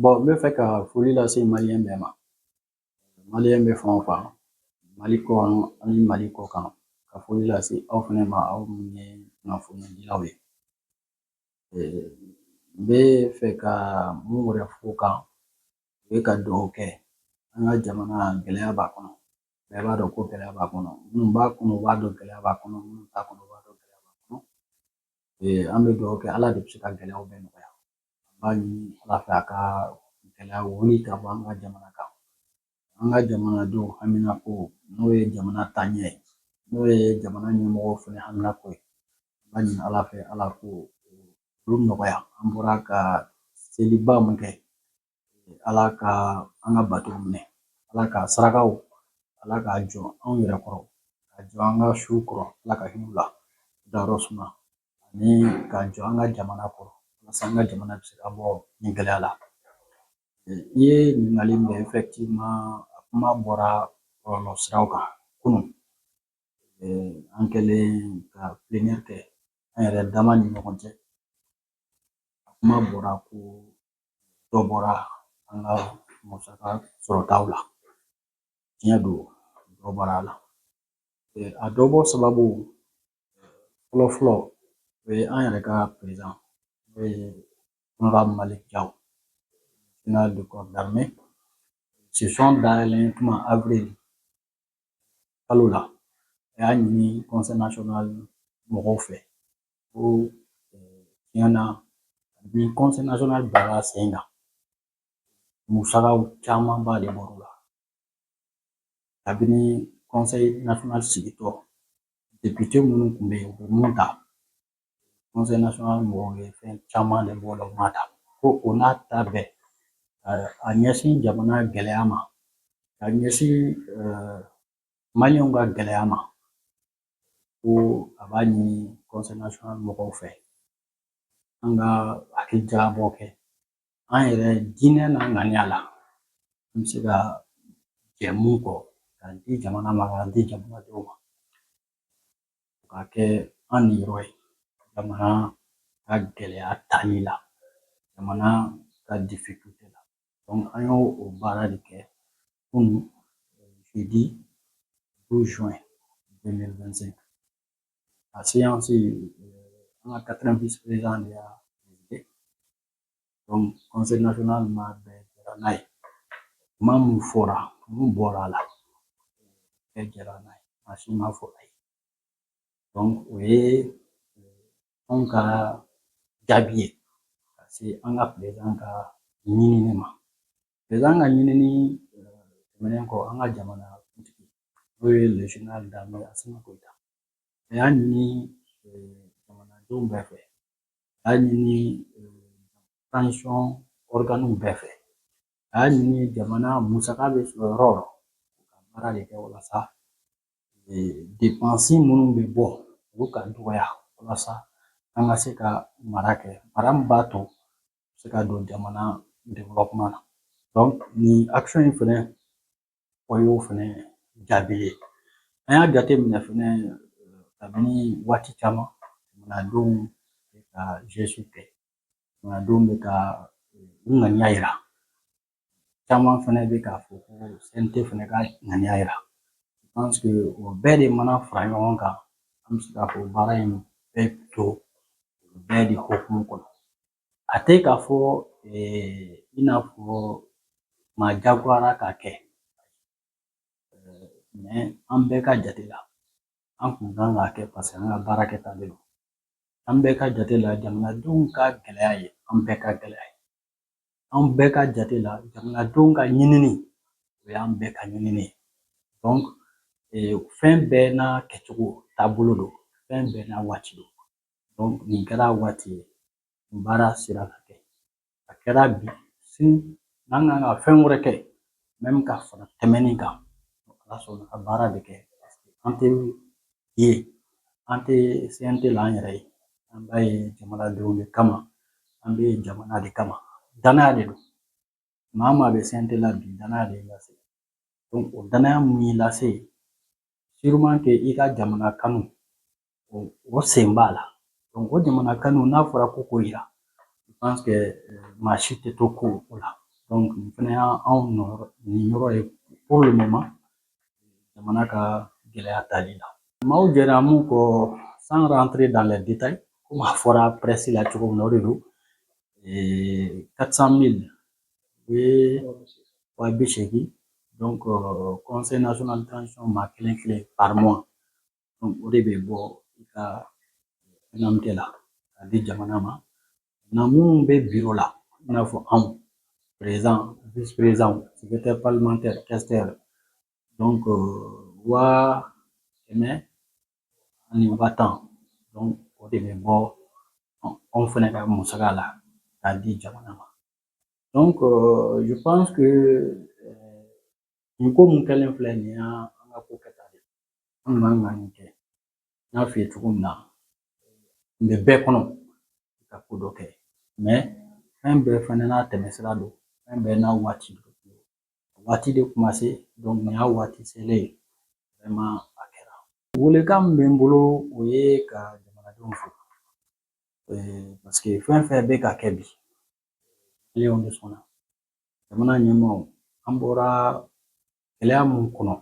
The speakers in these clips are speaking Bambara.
Bon n bɛ fɛ ka foli lase maliyɛn bɛɛ ma maliyɛn bɛ fan o fan mali kɔnɔ ani mali kɔ kan ka foli lase aw fana ma aw minnu ye kunnafonidilaw ye n bɛ fɛ ka mun wɛrɛ f'o kan o ye ka dugawu kɛ an ka jamana gɛlɛya b'a kɔnɔ bɛɛ b'a dɔn ko gɛlɛya b'a kɔnɔ minnu b'a kɔnɔ u b'a dɔn gɛlɛya b'a kɔnɔ minnu t'a kɔnɔ u b'a dɔn gɛlɛya b'a kɔnɔ an bɛ dugawu kɛ ala de bɛ se ka gɛlɛyaw bɛɛ nɔgɔya An b'a ɲini Ala fɛ a ka gɛlɛya wuli ka bɔ an ka jamana kan. An ka jamanadenw haminanko n'o ye jamana taaɲɛ ye, n'o ye jamana ɲɛmɔgɔw fana haminanko ye, an b'a ɲini Ala fɛ Ala k'olu nɔgɔya. An bɔra ka seliba min kɛ Ala ka an ka batow minɛ, Ala ka sarakaw Ala k'a jɔ anw yɛrɛ kɔrɔ, k'a jɔ an ka suw kɔrɔ Ala ka hin'u la dayɔrɔ suma. ani k'a jɔ an ka jamana kɔrɔ walasa an ka jamana bɛ se ka bɔ nin gɛlɛya la i ye ɲininkali min kɛ effectivement a kuma bɔra bɔlɔlɔ siraw kan kunun an kɛlen ka plénière kɛ an yɛrɛ dama ni ɲɔgɔn cɛ a kuma bɔra ko dɔ bɔra an ka musaka sɔrɔtaw la tiɲɛ don dɔ bɔra a la a dɔ bɔ sababu fɔlɔ fɔlɔ o ye an yɛrɛ ka président n'o ye honorable malick diaw général de corps d'armée session dayɛlɛn tuma avril kalo la a y'a ɲini conseil national mɔgɔw fɛ ko tiɲɛ na ni conseil national baara sen kan musakaw camanba de bɔr'o la kabini conseil national sigitɔ député minnu tun bɛ yen u bɛ mun ta conseil national mɔgɔw ye fɛn caman de b'o la u m'a ta ko o n'a ta bɛɛ a ɲɛsin jamana gɛlɛya ma ka ɲɛsin maliyɛnw ka gɛlɛya ma ko a b'a ɲini conseil national mɔgɔw fɛ an ka hakilijagabɔ kɛ an yɛrɛ diinɛ n'a ŋaniya la an bɛ se ka jɛ mun kɔ k'a di jamana ma k'a di jamanadenw ma k'a kɛ an niyɔrɔ ye jamana ka gɛlɛya tali la jamana ka difficulté la an y'o baara de kɛ kunun jeudi 12 juin 2025 a séance an ka 4e vice président de y'a Donc conseil national maa bɛɛ jɛra n'a ye kuma min fɔra mun bɔra a la bɛɛ jɛra n'a ye maa si m'a fɔ ayi donc o ye anw ka jaabi ye ka se an ka président ka ɲinini ma président ka ɲinini tɛmɛnen kɔ an ka jamana kuntigi n'o ye le général d'armée Asimi Goyita a y'a ɲini jamanadenw bɛɛ fɛ a y'a ɲini transition ɔriganiw bɛɛ fɛ a y'a ɲini jamana musaka bɛ sɔrɔ yɔrɔ o yɔrɔ ka baara de kɛ walasa depansi minnu bɛ bɔ olu ka dɔgɔya walasa an ka se ka mara kɛ mara min b'a to se ka don jamana développement na donc nin action in fɛnɛ O y'o fɛnɛ jaabi ye an y'a jateminɛ fɛnɛ kabini waati caman jamanadenw bɛ ka geste kɛ jamanadenw bɛ ka u ŋaniya yira caman fɛnɛ bɛ k'a fɔ ko CNT fɛnɛ ka ŋaniya yira je pense que o bɛɛ de mana fara ɲɔgɔn kan an bɛ se k'a fɔ baara in bɛ to bɛɛ de hukumu kɔnɔ. A tɛ k'a fɔ i n'a fɔ maa jagoyara k'a kɛ mais an bɛɛ ka jate la an kun kan k'a kɛ paseke an ka baara kɛta de don an bɛɛ ka jate la jamanadenw ka gɛlɛya ye an bɛɛ ka gɛlɛya ye an bɛɛ ka jate la jamanadenw ka ɲinini o y'an bɛɛ ka ɲinini ye donc fɛn bɛɛ n'a kɛcogo taabolo don fɛn bɛɛ n'a waati don Donc nin kɛra waati ye baara sera ka kɛ a kɛra bi sini n'an kan ka fɛn wɛrɛ kɛ même ka fara tɛmɛnin kan ala sɔnna ka baara de kɛ paseke an tɛ yen an tɛ CNT la an yɛrɛ ye an bɛ yen jamanadenw de kama an bɛ jamana de kama danaya de don maa o maa bɛ CNT la bi danaya de y'i lase o danaya mun y'i lase sûrement que i ka jamana kanu o sen b'a la o jamana kanu n'a fɔra ko k'o yira je pense que maa si tɛ to kɔ o la nin fana y'anw niyɔrɔ ye pour le moment jamana ka gɛlɛya tali la maaw jɛra mun kɔ sans rentrer dans les détails komi a fɔra presse la cogo min na o de don et 400 000 o ye wa bi seegin donc euh, conseil national de transition maa kelen kelen par mois donc o de bɛ bɔ i ka indemnité la k'a di jamana ma na minnu bɛ biro la i n'a fɔ anw président vice président secrétaire parlementaire questeur donc euh, wa kɛmɛ ani wa tan donc o de bɛ bɔ anw fana ka musaka la k'a di jamana ma donc euh, je pense que euh, nin ko mun kɛlen filɛ nin y'an ka ko kɛta de an man kan nin kɛ n y'a f'i ye cogo min na n bɛ bɛɛ kɔnɔ ka ko dɔ kɛ mais fɛn bɛɛ fana n'a tɛmɛsira don fɛn bɛɛ n'a waati don Waati de kuma se donc nin y'a waati selen ye vraiment a kɛra welekan min bɛ n bolo o ye ka jamanadenw fo parce que fɛn fɛn bɛ ka kɛ bi maliyɛnw de sɔnna jamana ɲɛmaaw an bɔra gɛlɛya mun kɔnɔ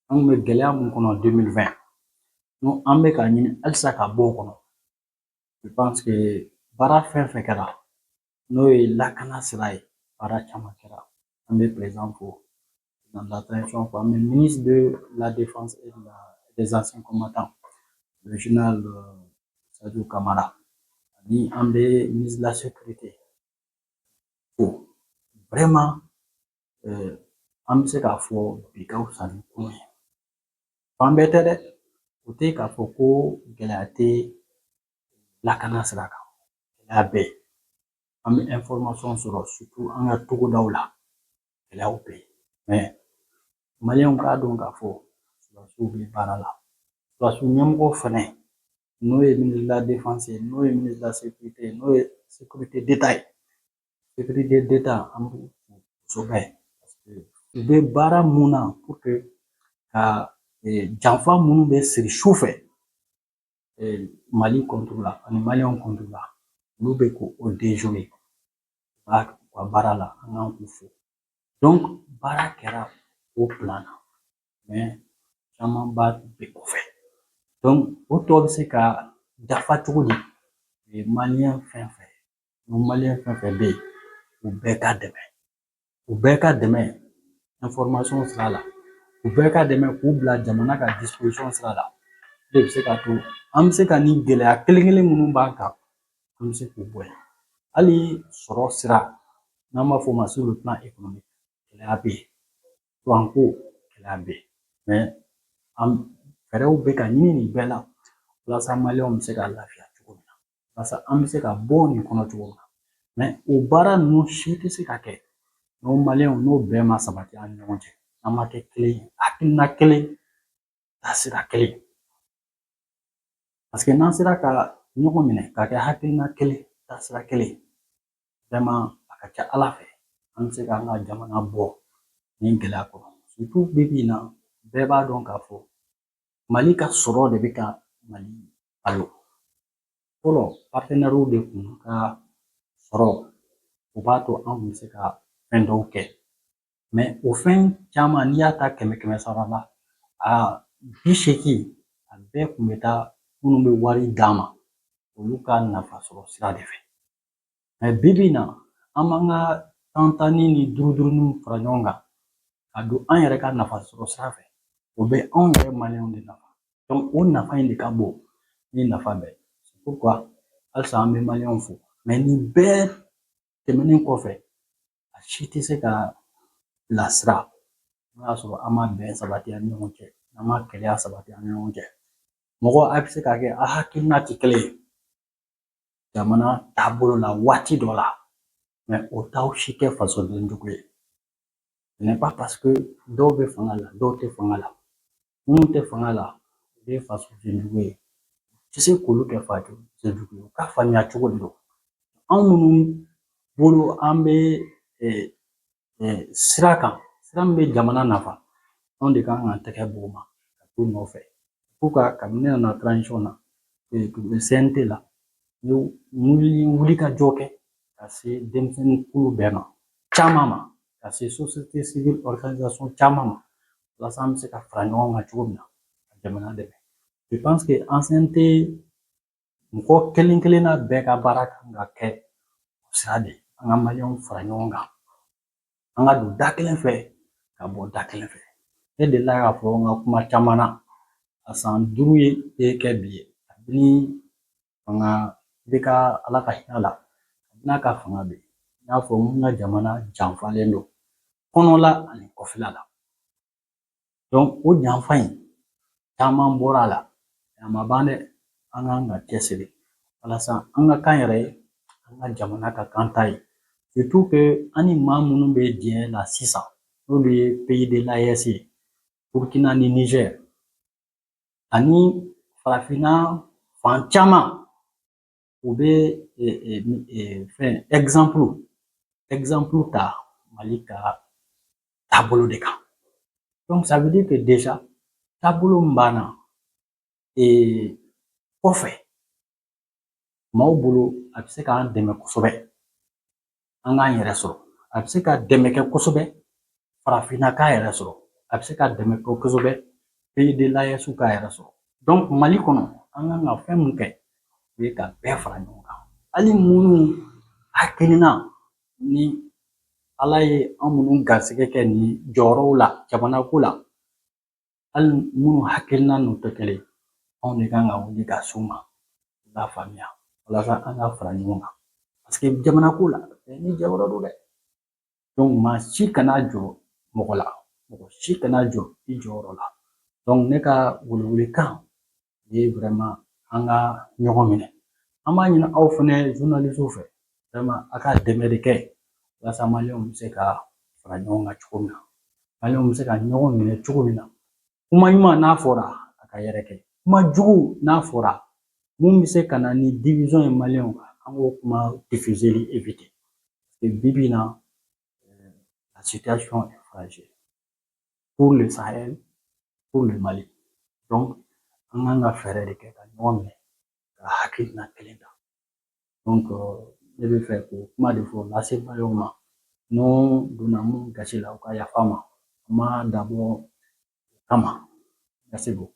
an bɛ gɛlɛya mun kɔnɔ 2020 n'o an bɛ ka ɲini halisa ka bɔ o kɔnɔ je pense que baara fɛn fɛn kɛra n'o ye lakana sira ye baara caman kɛra an bɛ président fo de la transition fo an bɛ ministre de la défense et de la des anciens combattants le général euh, Sadio Kamara ani an bɛ ministre de la sécurité fo vraiment euh, an bɛ se k'a fɔ bi ka fisa ni kunun ye fan bɛɛ tɛ dɛ o tɛ k'a fɔ ko gɛlɛya tɛ lakana sira kan gɛlɛya bɛ yen an bɛ information sɔrɔ surtout an ka togodaw la gɛlɛyaw bɛ yen mais maliyɛnw k'a dɔn k'a fɔ sɔrɔdasiw bɛ baara la sɔrɔdasi ɲɛmɔgɔ fɛnɛ n'o ye ministre de la défense ye n'o ye ministre de la sécurité ye n'o ye sécurité d'État ye sécurité d'État an b'u fo kosɛbɛ parce que u bɛ baara mun na pour que ka janfa minnu bɛ siri su fɛ mali contre la ani maliyɛnw contre la olu bɛ k'o déjouer ba u ka baara la an kan k'u fo donc baara kɛra o plan na mais caman ba bɛ kɔfɛ donc o tɔ bɛ se ka dafa cogo di maliyɛn fɛn fɛn ni maliyɛn fɛn fɛn bɛ yen u bɛɛ ka dɛmɛ u bɛɛ ka dɛmɛ information sira la u bɛɛ ka dɛmɛ k'u bila jamana ka disposition sira la o bɛ se k'a to an bɛ se ka nin gɛlɛya kelen kelen minnu b'an kan an bɛ se k'u bɔ yen hali sɔrɔ sira n'an b'a fɔ o ma sur le plan économique gɛlɛya bɛ yen kuranko gɛlɛya bɛ yen mais fɛɛrɛw bɛ ka ɲini nin bɛɛ la walasa maliyɛnw bɛ se ka lafiya walasa an bɛ se ka bɔ nin kɔnɔ cogo min na mais o baara ninnu si tɛ se ka kɛ n'anw maliyɛnw ni bɛn ma sabati an ni ɲɔgɔn cɛ an ma kɛ kelen ye hakilina kelen taasira kelen parce que n'an sera ka ɲɔgɔn minɛ ka kɛ hakilina kelen taasira kelen vraiment a ka ca ala fɛ an bɛ se k'an ka jamana bɔ nin gɛlɛya kɔnɔ surtout bi bi in na bɛɛ b'a dɔn k'a fɔ mali ka sɔrɔ de bɛ ka mali balo fɔlɔ partenɛriw de kun ka sɔrɔ o b'a to an kun bɛ se ka fɛn dɔw kɛ mais o fɛn caman n'i y'a ta kɛmɛ kɛmɛ sara la a bi seegin a bɛɛ kun bɛ taa minnu bɛ wari d'an ma olu ka nafa sɔrɔ sira de fɛ bi bi in na an b'an ka tantanni ni duruduruninw fara ɲɔgɔn kan ka don an yɛrɛ ka nafa sɔrɔ sira fɛ o bɛ anw yɛrɛ maliyɛnw de nafa donc o nafa in de ka bon ni nafa bɛɛ ye c'est pourquoi halisa an bɛ maliyɛnw fo mais nin bɛɛ tɛmɛnen kɔfɛ a si tɛ se ka bilasira n'o y'a sɔrɔ an ma bɛn sabati an ni ɲɔgɔn cɛ an ma kelenya sabati an ni ɲɔgɔn cɛ mɔgɔ a bɛ se ka kɛ a hakilina tɛ kelen ye jamana taabolo la waati dɔ la mais o t'aw si kɛ fasoden jugu ye ce n'est pas parce que dɔw bɛ fanga la dɔw tɛ fanga la minnu tɛ fanga la u bɛ fasoden jugu ye o tɛ se k'olu kɛ fasoden jugu ye u ka faamuya cogo de don anw minnu bolo an bɛ sira kan sira min bɛ jamana nafa anw de kan k'an tɛgɛ b'o ma ka t'u nɔfɛ pourquoi kabini ne nana transition na CNT la n ye wulikajɔ kɛ ka se denmisɛnnin kulu bɛɛ ma caman ma ka se société civile organisation caman ma walasa an bɛ se ka fara ɲɔgɔn kan cogo min na ka jamana dɛmɛ je pense que an CNT mɔgɔ kelen kelenna bɛɛ ka baara kan ka kɛ o sira de ye an ka maliyɛnw fara ɲɔgɔn kan an ka don da kelen fɛ ka bɔ da kelen fɛ ne delila k'a fɔ n ka kuma caman na a san duuru ye kɛ bi ye kabini fanga IBK ala ka hinɛ a la kabini a ka fanga bɛ n y'a fɔ an ka jamana janfalen don kɔnɔla ani kɔfɛla la o janfa in caman bɔra a la a ma ban dɛ an kan ka cɛsiri walasa an ka k'an yɛrɛ ye an ka jamana ka k'an ta ye surtout que an ni maa minnu bɛ diya la sisan n'olu ye pays de l'AES ye Burukina ni Nizɛri ani farafinna fan caman u bɛ fɛn ta mali ka taabolo de kan taabolo min b'an na kɔfɛ maaw bolo a bɛ se k'an dɛmɛ kosɛbɛ an k'an yɛrɛ sɔrɔ a bɛ se ka dɛmɛ kɛ kosɛbɛ farafinna k'a yɛrɛ sɔrɔ a bɛ se ka dɛmɛ kɛ kosɛbɛ pays de l'AESw k'a yɛrɛ sɔrɔ donc mali kɔnɔ an kan ka fɛn mun kɛ o ye ka bɛɛ fara ɲɔgɔn kan hali minnu hakilina ni ala ye an minnu garisɛgɛ kɛ nin jɔyɔrɔw la jamanako la hali minnu hakilina n'u tɛ kelen anw de kan ka wuli ka s'u ma u k'a faamuya walasa an ka fara ɲɔgɔn kan parce que jamanako la bɛɛ n'i jɔyɔrɔ don dɛ donc maa si kana jɔn mɔgɔ la mɔgɔ si kana jɔn i jɔyɔrɔ la donc ne ka welewelekan ye vraiment an ka ɲɔgɔn minɛ an b'a ɲini aw fɛnɛ journalistew fɛ vraiment a ka dɛmɛ de kɛ walasa maliyɛnw bɛ se ka fara ɲɔgɔn kan cogo min na maliyɛnw bɛ se ka ɲɔgɔn minɛ cogo min na kuma ɲuman n'a fɔra a ka yɛrɛkɛ kuma jugu n'a fɔra mun bɛ se ka na ni division ye maliyɛnw kan an k'o kuma diffuseli éviter parce que bibi in na euh, la situation est fragile pour le Sahel, pour le Mali. Donc, an kan ka fɛɛrɛ de kɛ ka ɲɔgɔn minɛ ka hakilina kelen ta. Donc, euh, ne b'a fɛ k'o kuma de fɔ lase maliyɛnw ma n'o donna mun gasi la u ka yafa n ma a ma dabɔ o kama. Merci beaucoup.